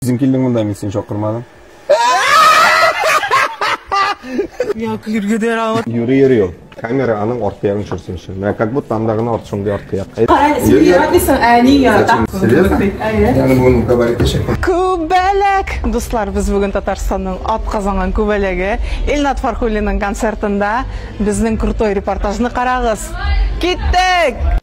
Үзең килдең монда, мин сине чакырмадым. Я күлергә дә рагат. Юри юри ул. Камера аның арты ягын төшерсенче. Менә как будто анда гына арт шундый арты як. Кара, син яратмыйсың, ә әни ярата. Серьезно? Әйе. Ягы бүген габарит эчек. Күбәләк! Дуслар, без бүген Татарстанның ат казанган күбәләге Илнат Фархуллинның концертында. Безнең крутой репортажны карагыз. Киттек!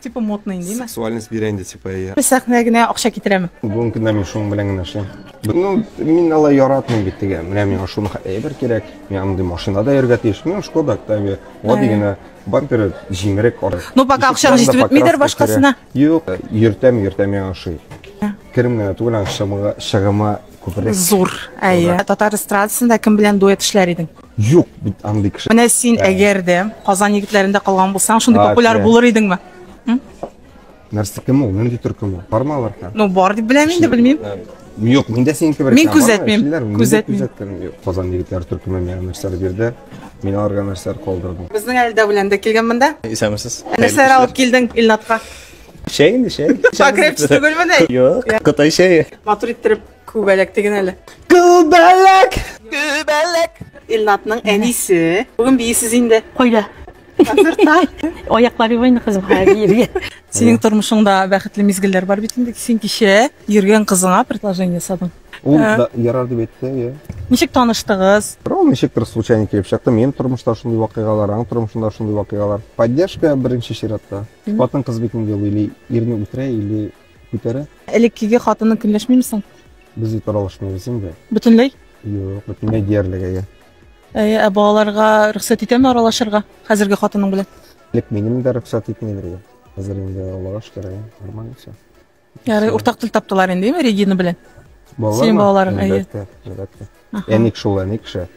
Типа модный инде, имә. Сексуальность бирә инде типа, иә. Без сәхнә генә акча китерәме? Бүгенге көндә мин шуның белән генә эшлим. Ну, мин алай яратмыйм бит теге. Менә миңа шуны әйбер кирәк. Мин андый машинада йөргә тиеш. Мин Шкода Октавия. Гади генә бамперы җимерек ары. Ну, пока акчаң җитеп бетмидер башкасына. Юк, йөртәм, йөртәм яңа шуй. Керем генә түгел, шыгымы күбрәк. Зур. Әйе. Татар эстрадасында кем белән дуэт эшләр идең? Юк бит андый кеше. Менә син әгәр дә Казан егетләрендә калган булсаң, шундый популяр булыр идеңме? Нәрсә кем ул? Нинди төркем ул? Барма алар һәм. Ну, бар дип беләм инде, белмим. Юк, миндә синеке бер. Мин күзәтмим. Күзәтмим. Казан егетләре төркеме миңа нәрсәләр бирде. Мин аларга нәрсәләр калдырдым. Безнең әлдә белән дә килгән монда. Исәнмесез. Нәрсәләр алып килдең Илнатка? Чәй инде, чәй. Покрепче түгелме ни? Юк, Кытай чәе. Матур иттереп күбәләк диген әле. Күбәләк! Күбәләк! Илнатның әнисе. Бүген бийсез инде. Кайда? Концертта. Аяклар юбайны кызым хәзер йөргә. Синең тормышыңда бәхетле мизгелләр бар бит инде. Син кичә йөргән кызыңа предложение ясадың. Ул да ярар дип әйтте, я. Ничек таныштыгыз? Ул ничектер случайно килеп чыкты. Минем тормышта шундый вакыйгалар, аның тормышында шундый вакыйгалар. Поддержка беренче чиратта. Хатын кыз бит инде ул или ирне үтерә, или күтәрә. Элеккеге хатының көнләшмиме соң? Без бит аралашмыйбыз инде. Бөтенләй? Юк, бөтенләй диярлек әйе. Әйе, ә балаларга рөхсәт итәме аралашырга хәзерге хатының белән? Элек минем дә рөхсәт итмидер иде. Хәзер инде аллага шөкер, әйе, нормально все. Ярый, уртак тел таптылар инде, әйме, Регина белән? Синең балаларың, әйе. Әлбәттә, әлбәттә. Әник шул, әни кеше.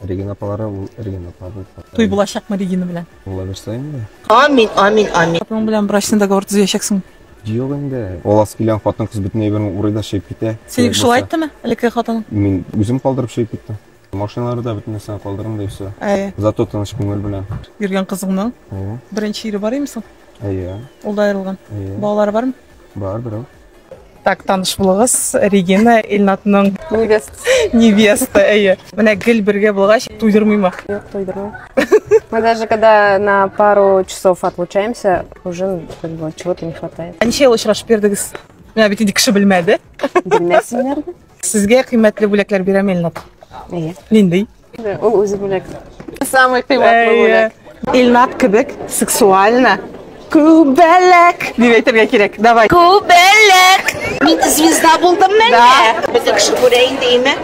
Регина апалары, ул Регина апа булып калды. Туй булачакмы Регина белән? Була бирсә инде. Амин, амин, амин. Хатының белән брачный договор төзәчәксең. Юк инде. Ул ас килгән хатын кыз бөтен әйберен урый да чәйп китә. Синең шулай айттымы? Элекке хатының? Мин үзем калдырып чәйп киттем. Машиналар да бөтен нәрсәне калдырам да и все. Әйе. Зато тыныч күңел белән. Йөргән кызыңның Әйе. беренче ире бар име соң? Әйе. Ул да аерылган. Әйе. Балалары бармы? Бар берәү. Так, таныш булыгыз, Регина Илнатның Невест. невеста, әйе. Менә гел бергә булгач, туйдырмыймы? Нет, тойдырмай. Мы даже когда на пару часов отлучаемся, уже как бы чего-то не хватает. Ә ничә ел очрашып йөрдегез? Менә бит инде кеше белмәде. Белмәсеннәр дә. Сезгә кыйммәтле бүләкләр бирәм, Илнат. Әйе. Нинди? Ул үзе бүләк. Самый кыйммәтле бүләк. Илнат кебек сексуально Күбәләк дип әйтергә кирәк. Давай. Күбәләк. Мин звезда булдым мәллә? Да. Бөтен кеше күрә инде име?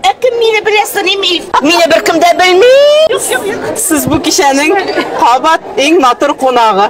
Ә кем мине белә саныйм ил? Мине беркем дә белми. Сез бу кичәнең кабат иң матур кунагы.